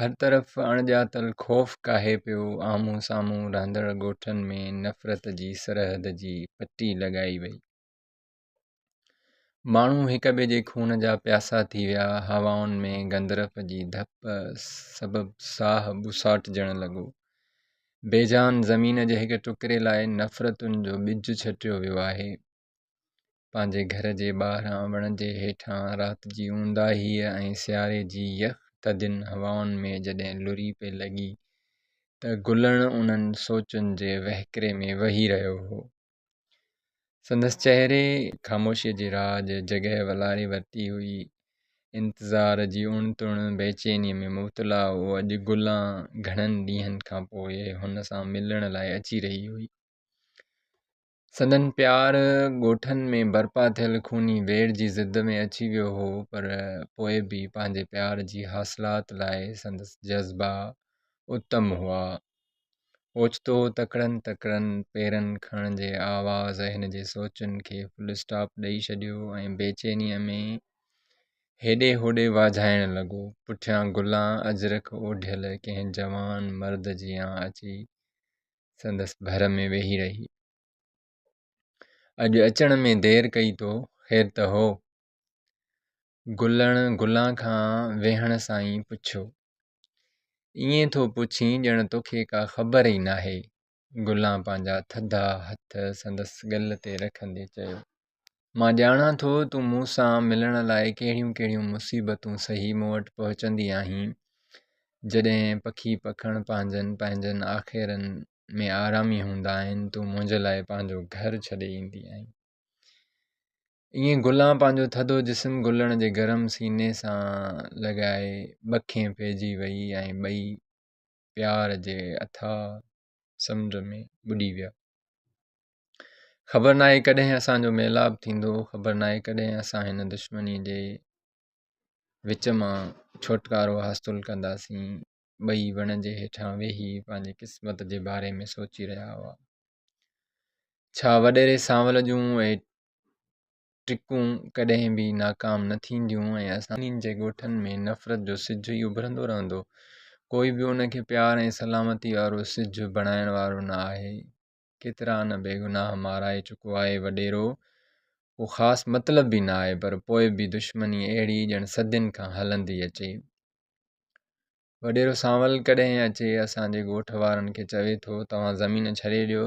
هر طرف اڻڄاتل خوف ڪاهي پيو، آمهون سامهون رهندڙ ڳوٺن ۾ نفرت جي سرحد جي پٽي لڳائي وئي. ماڻهو هڪ ٻئي جي خون جا پياسا ٿي ويا، هوائن ۾ گندرف جي ڌپ سبب ساهه ٻساٽجڻ لڳو. بيجان زمين جي هڪ ٽڪري لاء نفرتن جو ٻج ڇٽيو ويو آهي. پنهنجي گهر جي ٻاهران وڻ جي هيٺان رات جي اونداهيء ۽ سياري جي يخ ٿڌين هوائن ۾ جڏهن لري پئي لڳي ته گلڻ انهن سوچن جي وهڪري ۾ وهي رهيو هو. سندس چهري خاموشيء جي راڄ جڳهه والاري ورتي هئي. انتظار جي اڻ تڻ بيچينيء ۾ مبتلا هو. اڄ گلڻ گهڻن ڏينهن کان پوء هن سان ملڻ لاء اچي رهي هئي. سندن پيار ڳوٺن ۾ برپا ٿيل خوني ويڙهه جي ضد ۾ اچي ويو هو پر پوء به پنهنجي پيار جي حاصلات لاء سندس جذبا اتم هئا. اوچتو تڪڙن تڪڙن پيرن کڻڻ جي آواز هن جي سوچن کي فل اسٽاپ ڏئي ڇڏيو ۽ بيچينيء ۾ هيڏي هوڏي واجهائڻ لڳو. پٺيان گلان اجرڪ اوڍيل ڪنهن جوان مرد جيان اچي سندس ڀر ۾ ويهي رهي. اڄ اچڻ ۾ دير ڪئي تو خير ته هو. گلڻ گلان کان ويهڻ سان ئي پڇيو. ائين ٿو پڇين ڄڻ توکي ڪا خبر ئي ناهي. گلان پنهنجا ٿڌا هٿ سندس ڳل تي رکندي چيو. مان ڄاڻان ٿو تون مون سان ملڻ لاء ڪهڙيون ڪهڙيون مصيبتون سهي مون وٽ پهچندي آهين جڏهن پکي پکڻ پنهنجن پنهنجن آخيرن ۾ آرامي هوندا آهن تون منهنجي لاء پنهنجو گهر ڇڏي ايندي آهين ائين گلان پنهنجو ٿڌو جسم گلڻ جي گرم سيني سان لڳائي ٻکين پئجي وئي ۽ ٻئي پيار جي اٿا سمنڊ ۾ ٻڏي ويا خبر ناهي ڪڏهن اسانجو ميلاپ ٿيندو خبر ناهي ڪڏهن اسان هن دشمني جي وچ مان ڇوٽڪارو حاصل ڪنداسين ٻئي وڻ جي هيٺان ويهي پنهنجي قسمت جي باري ۾ سوچي رهيا هئا ڇا وڏيري سانول جون ٽرڪون ڪڏهن به ناڪام نه ٿينديون ۽ اسان جي ڳوٺن ۾ نفرت جو سج ئي اڀرندو رهندو. ڪوئي به ان کي پيار ۽ سلامتي وارو سج بڻائڻ وارو نه آهي. ڪيترا نه بيگناهه مارائي چڪو آهي وڏيرو. ڪو خاص مطلب به نه آهي پر پوء به دشمني اهڙي ڄڻ صدين کان هلندي اچي. وڏيرو سانول ڪڏهن اچي اسان جي ڳوٺ وارن کي چوي ٿو توهان زمين ڇڏي ڏيو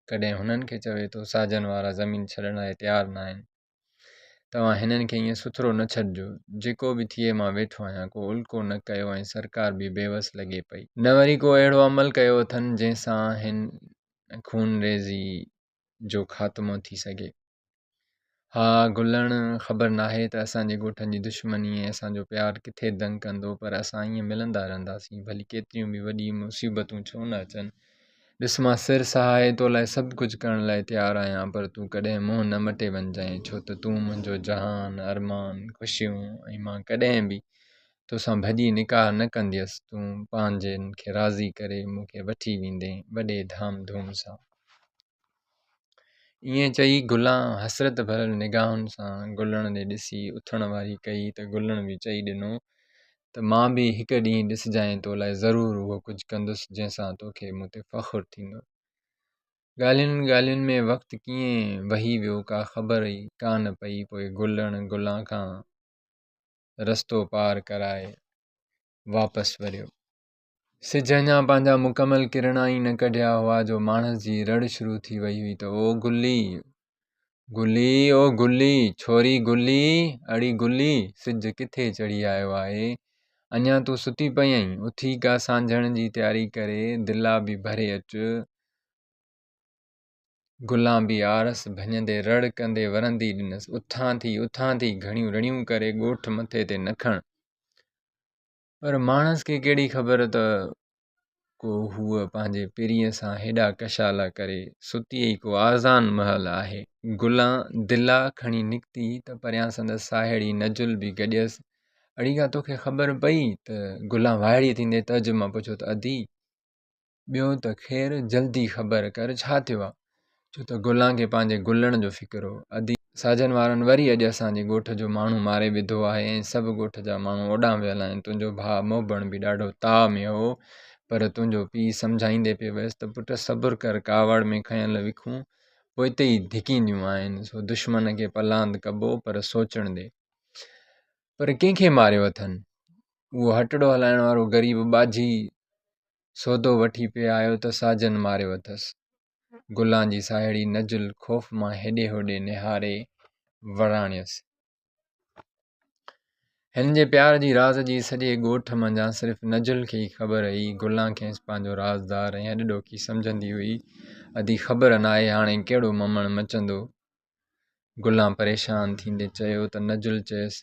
ڪڏهن هنن کي چوي ٿو ساجن وارا زمين ڇڏڻ لاء تيار نه آهن توهان هنن کي ائين سٿرو نه ڇڏجو جيڪو به ٿئي مان ويٺو آهيان ڪو الڪو نه ڪيو ۽ سرڪار به بيوس لڳي پئي نه وري ڪو اهڙو عمل ڪيو اٿن جنهن سان هن خونريزي جو خاتمو ٿي سگهي. ها گلڻ خبر ناهي ته اسان جي ڳوٺن جي دشمني ۽ اسان جو پيار ڪٿي دنگ ڪندو پر اسان ائين ملندا رهنداسين ڀلي ڪيتريون به وڏي مصيبتون ڇو نه اچن. ڏس مان سر سهائي تو لاء سڀ ڪجهه ڪرڻ لاء تيار آهيان پر تون ڪڏهن منهن نه مٽي وڃجانء ڇو ته تون منهنجو جهان، ارمان، خوشيون ۽ مان ڪڏهن به توسان ڀڄي نڪاح نه ڪنديس، تون پنهنجن کي راضي ڪري مون کي وٺي ويندين وڏي ڌام ڌوم سان. ائين چئي گلان حسرت ڀريل نگاهن سان گلڻ ڏي ڏسي اٿڻ واري ڪئي ته گلڻ به چئي ڏنو ته مان به هڪ ڏينهن ڏسجانء تو لاء ضرور اهو ڪجهه ڪندس جنهن سان توکي مون تي فخر ٿيندو. ڳالهين ڳالهين ۾ وقت ڪيئن وهي ويو ڪا خبر ئي ڪانه پئي پوء گلڻ گلان کان رستو پار ڪرائي واپس وريو. سج اڃا پنهنجا مڪمل ڪرڻا ئي نه ڪڍيا هئا جو ماڻس جي رڙ شروع ٿي وئي هئي ته او گلي گلي او گلي ڇوري گلي اڙي گلي سج ڪٿي چڙهي آيو آهي اڃا تون ستي پئي آهين اٿي ڪا سانجهڻ جي تياري ڪري دلا به ڀري اچ گلانبي آرس ڀڃندي رڙ ڪندي ورندي ڏنس، اٿان ٿي اٿان ٿي گهڻيون رڙيون ڪري ڳوٺ مٿي تي نه کڻ. پر ماڻس کي ڪهڙي خبر ته ڪو هوء پنهنجي پرينء سان هيڏا ڪشالا ڪري ستي ئي ڪو آزان مهل آهي. گلان دلا کڻي نڪتي ته پريان سندس ساهيڙي نجل به گڏيس. اڙيگا توکي خبر پئي ته گلان وائڙي ٿيندي تعجب مان پڇيو ته ادي! ٻيو ته خير جلدي خبر ڪر ڇا ٿيو آ ڇو ته گلان کي پنهنجي گلڻ جو فڪر هو ادي ساجن وارن وري اڄ اسان جي ڳوٺ جو ماڻهو ماري وڌو آهي ۽ سڀ ڳوٺ جا ماڻهو اوڏانهن ويل آهن تنهنجو ڀاء موبڻ به ڏاڍو تاء ۾ هو پر تنهنجو پيء سمجهائيندي پئي ويس ته پٽ صبر ڪر ڪاوڙ ۾ کنيل وکون پوئتي ئي ڌڪينديون آهن سو دشمن کي پلاند ڪبو پر سوچڻ ڏي پر ڪنهن کي ماريو اٿن اهو هٽڙو هلائڻ وارو غريب ٻاجهي سودو وٺي پئي آيو ته ساجن ماريو اٿس. گلان جي ساهيڙي نجل خوف مان هيڏي هوڏي نهاري وراڻيس. هن جي پيار جي راز جي سڄي ڳوٺ منجهان صرف نجل کي ئي خبر هئي. گلان کيس پنهنجو رازدار ۽ اڏڏوکي سمجهندي هئي. ادي خبر ناهي هاڻي ڪهڙو ممڻ مچندو. گلان پريشان ٿيندي چيو ته نجل چيس،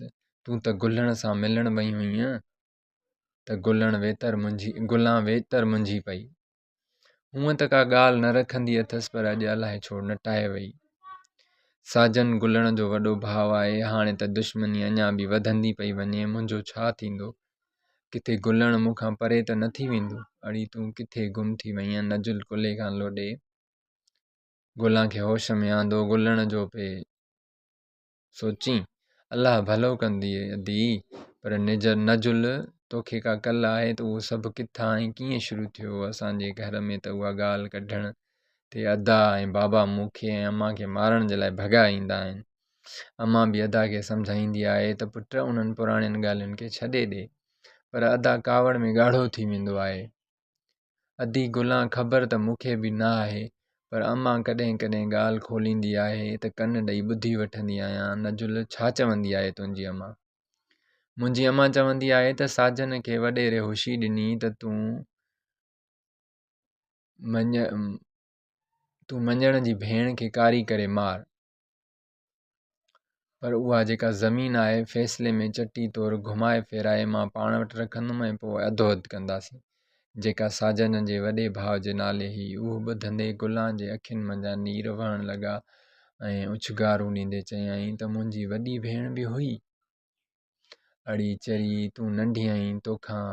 تون ته گلڻ سان ملڻ وئي هئينء ته گلڻ ويتر منجهي گلان ويتر منجهي پئي. هونء ته ڪا ڳالهه نه رکندي اٿس پر اڄ الائي ڇو نٽائي وئي. ساجن گلڻ جو وڏو ڀاء آهي، هاڻي ته دشمني اڃا به وڌندي پئي وڃي، منهنجو ڇا ٿيندو؟ ڪٿي گلڻ مون کان پري ته نه ٿي ويندو؟ اڙي تون ڪٿي گم ٿي وئينء؟ نجل ڪلهي کان لوڏي. گلان کي هوش ۾ آندو گلڻ جو پئي سوچين الله ڀلو ڪنديئي ادي پر نج نجل توکي ڪا ڪل آهي ته اهو سڀ ڪٿان ۽ ڪيئن شروع ٿيو اسانجي گهر ۾ ته اها ڳالهه ڪڍڻ تي ادا ۽ بابا مون کي ۽ امان کي مارڻ جي لاء ڀڳا ايندا آهن امان به ادا کي سمجهائيندي آهي ته پٽ انهن پراڻين ڳالهين کي ڇڏي ڏي پر ادا ڪاوڙ ۾ ڳاڙهو ٿي ويندو آهي ادي گلان خبر ته مون کي به نه آهي پر امان ڪڏهن ڪڏهن ڳالهه کوليندي آهي ته ڪن ڏئي ٻڌي وٺندي آهيان نجل ڇا چوندي آهي تنهنجي امان منهنجي امان چوندي آهي ته ساجن کي وڏيري هوشي ڏني ته تون مڃ تون مڃڻ جي ڀيڻ کي ڪاري ڪري مار پر اها جيڪا زمين آهي، فيصلي ۾ چٽي طور گهمائي ڦيرائي مان پاڻ وٽ رکندم ۽ پوء اڌو اڌ ڪنداسين. جيڪا ساجن جي وڏي ڀاء جي نالي هئي. اهو ٻڌندي گلان جي اکين منجهان نير وهڻ لڳا ۽ اڇنگارون ڏيندي چيائين ته منهنجي وڏي ڀيڻ به هئي. اڙي چري، تون ننڍي آهين، توکان.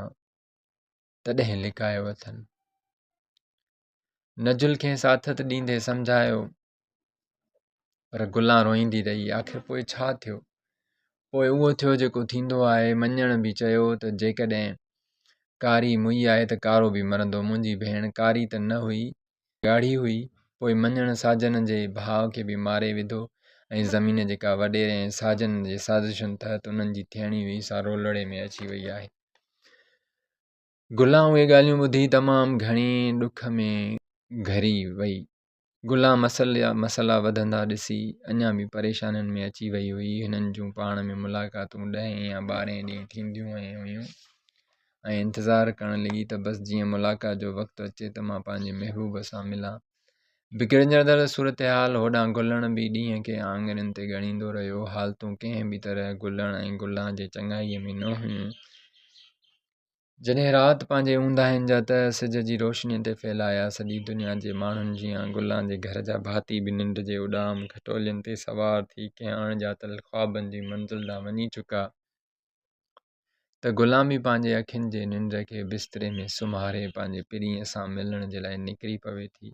تڏهن لڪايو اٿن. نجل کين ساٿت ڏيندي سمجهايو پر گلان روئيندي رهي آخر پوء ڇا ٿيو پوء اهو ٿيو جيڪو ٿيندو آهي مڃڻ به چيو ته جيڪڏهن ڪاري مئي آهي ته ڪارو به مرندو منهنجي ڀيڻ ڪاري ته نه هئي ڳاڙهي هئي، پوء مڃڻ ساجن جي ڀاء کي به ماري وڌو ۽ زمين جيڪا وڏيري ۽ ساجن جي سازشن تحت انهن جي ٿيڻي هئي سا رولڙي ۾ اچي وئي آهي. گلا اهي ڳالهيون ٻڌي تمام گهڻي ڏک ۾ گهري وئي. گلا مسئلا مسئلا وڌندا ڏسي اڃا به پريشانين ۾ اچي وئي هئي. هنن جون پاڻ ۾ ملاقاتون ڏهين يا ٻارهين ڏينهن ٿينديون هيون. ۽ انتظار ڪرڻ لڳي ته بس جيئن ملاقات جو وقت اچي ته مان پنهنجي محبوب سان ملان. بگڙجندڙ صورتحال هوڏانهن گلڻ به ڏينهن کي آڱرين تي ڳڻيندو رهيو. حالتون ڪنهن به طرح گلڻ ۽ گلان جي چڱائيء ۾ نه هيون. جڏهن رات پنهنجي اونداهين جا تهه سج جي روشنيء تي ڦهلايا، سڄي دنيا جي ماڻهن جيان گلان جي گهر جا ڀاتي به ننڊ جي اڏام کٽولين تي سوار ٿي ڪنهن اڻ ڄاتل خوابن جي منزل ڏانهن وڃي چڪا. ته غلامي پنهنجي اکين جي ننڊ کي بستري ۾ سمهاري پنهنجي پرينء سان ملڻ جي لاء نڪري پوي ٿي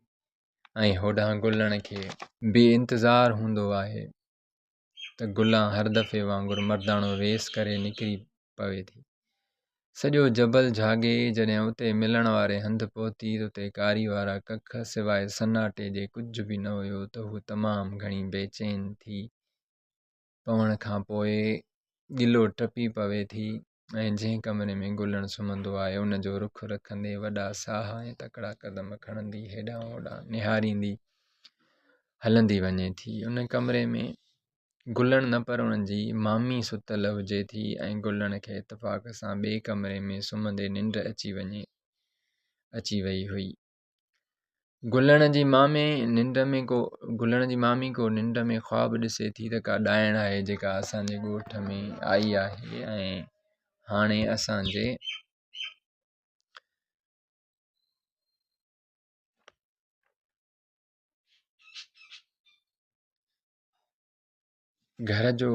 ۽ هوڏانهن گلڻ کي بي انتظار هوندو آهي ته گلان هر دفعي وانگر مرداڻو ويس ڪري نڪري پوي ٿي سڄو جبل جھاڳي جڏهن اتي ملڻ واري هنڌ پهتي ته اتي ڪاري وارا ڪک سواء سناٽي جي ڪجهه به نه هيو ته هو تمام گهڻي بيچين ٿي پوڻ کان پوء ڳلو ٽپي پوي ٿي ۽ جنهن ڪمري ۾ گلڻ سمهندو آهي ان جو رخ رکندي وڏا ساهه ۽ تڪڙا قدم کڻندي هيڏانهن هوڏانهن نهاريندي هلندي وڃي ٿي ان ڪمري ۾ گلڻ نه پر انهن جي مامي ستل هجي ٿي ۽ گلڻ کي اتفاق سان ٻئي ڪمري ۾ سمهندي ننڊ اچي وڃي اچي وئي هئي گلڻ جي مامي ننڊ ۾ ڪو گلڻ جي مامي ڪو ننڊ ۾ خواب ڏسي ٿي ته ڪا ڏائڻ آهي جيڪا اسانجي ڳوٺ ۾ آئي آهي ۽ هاڻي اسانجي گهر جو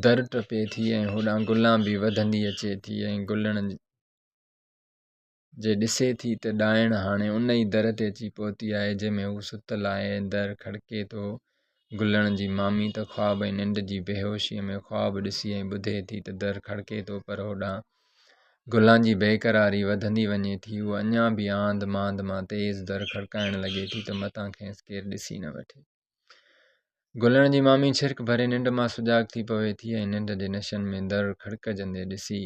در ٽپي ٿي ۽ هوڏانهن گلان به وڌندي اچي ٿي ۽ گلڻ جي ڏسي ٿي ته ڏائڻ هاڻي ان ئي در تي اچي پهتي آهي جنهن ۾ هو ستل آهي ۽ در کڙڪي ٿو. گلڻ جي مامي ته خواب ۽ ننڊ جي بيهوشيء ۾ خواب ڏسي ۽ ٻڌي ٿي ته در کڙڪي ٿو پر هوڏانهن گلان جي بيقراري وڌندي وڃي ٿي. هوء اڃا به آنڌ مانڌ مان تيز در کڙڪائڻ لڳي ٿي ته متان کيس ڪير ڏسي نه وٺي. گلڻ جي مامي ڇرڪ ڀري ننڊ مان سجاڳ ٿي پوي ٿي ۽ ننڊ جي نشن ۾ در کڙڪجندي ڏسي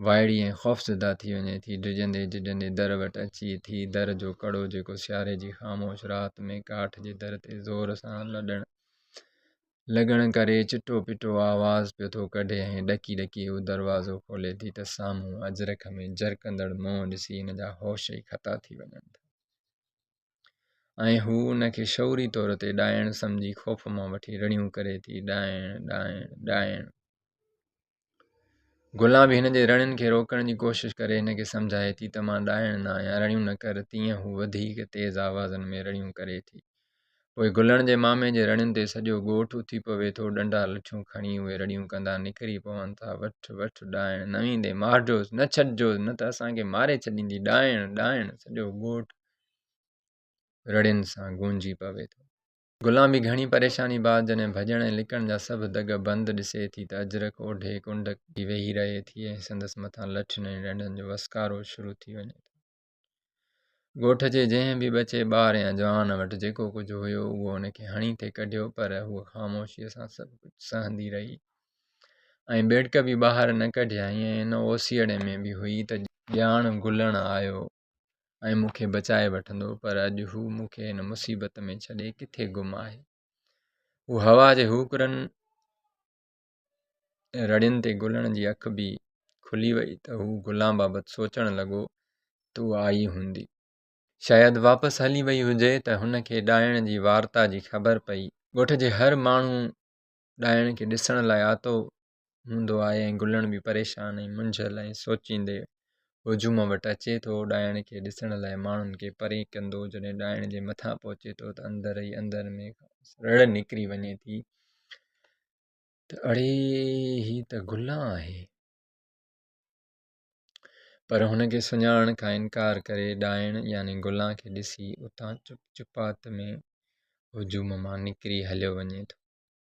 وائڙي ۽ خوفزده ٿي وڃي ٿي ڊڄندي جهڄندي در وٽ اچي ٿي در جو ڪڙو جيڪو سياري جي خاموش رات ۾ ڪاٺ جي در تي زور سان لڏڻ لڳڻ ڪري چٽو پٽو آواز پيو ٿو ڪڍي ۽ ڏڪي ڏڪي هو دروازو کولي ٿي ته سامهون اجرڪ ۾ جرڪندڙ منهن ڏسي هن جا هوش ئي خطا ٿي وڃن ٿا ۽ هو ان کي شعوري طور تي ڏائڻ سمجهي خوف مان وٺي رڙيون ڪري ٿي، ڏائڻ، ڏائڻ، ڏائڻ. گلان به هن جي رڙين کي روڪڻ جي ڪوشش ڪري هن کي سمجهائي ٿي ته مان ڏائڻ نه آهيان، رڙيون نه ڪر، تيئن هو وڌيڪ تيز آوازن ۾ رڙيون ڪري ٿي. پوء گلڻ جي مامي جي رڙين تي سڄو ڳوٺ اٿي پوي ٿو، ڏنڊا لٺيون کڻي اهي رڙيون ڪندا نڪري پون ٿا، وٺ، وٺ، ڏائڻ نه ويندين، مارجوس، نه ڇڏجوس، نه ته اسان کي ماري ڇڏيندي، ڏائڻ، ڏائڻ، سڄو ڳوٺ رڙين سان گونجي پوي ٿو. غلام به گهڻي پريشاني بعد جڏهن ڀڄڻ ۽ لڪڻ جا سڀ دڳ بند ڏسي ٿي ته اجرڪ اوڍي ڪنڊڪ جي ويهي رهي ٿي ۽ سندس مٿان لٺين ۽ ڏنڊن جو وسڪارو شروع ٿي وڃي ٿو. ڳوٺ جي جنهن به ٻچي، ٻار يا جوان وٽ جيڪو ڪجهه هيو اهو ان کي هڻي ٿي ڪڍيو پر هوء خاموشيء سان سڀ ڪجهه سهندي رهي ۽ ٻيڙڪ به ٻاهر نه ڪڍيائين ۽ ان اوسيئڙي ۾ به هئي ته ڄاڻ گلڻ آيو ۽ مون کي بچائي وٺندو پر اڄ هو مون کي هن مصيبت ۾ ڇڏي ڪٿي گم آهي هو هوا جي هوڪرن رڙين تي گلن جي اک به کلي وئي ته هو گلان بابت سوچڻ لڳو تو آئي هوندي شايد واپس هلي وئي هجي ته هن کي ڏائڻ جي وارتا جي خبر پئي ڳوٺ جي هر ماڻهو ڏائڻ کي ڏسڻ لاء آتو هوندو آهي ۽ گلڻ به پريشان ۽ منجهيل ۽ سوچيندي هجوم وٽ اچي ٿو. ڏائڻ کي ڏسڻ لاء ماڻهن کي پري ڪندو جڏهن ڏائڻ جي مٿان پهچي ٿو ته اندر ئي اندر ۾ کانئس رڙ نڪري وڃي ٿي ته اڙي هي ته گلڻ آهي. پر هن کي سڃاڻڻ کان انڪار ڪري ڏائڻ يعني گلڻ کي ڏسي اتان چپ چپات ۾ هجوم مان نڪري هليو وڃي ٿو.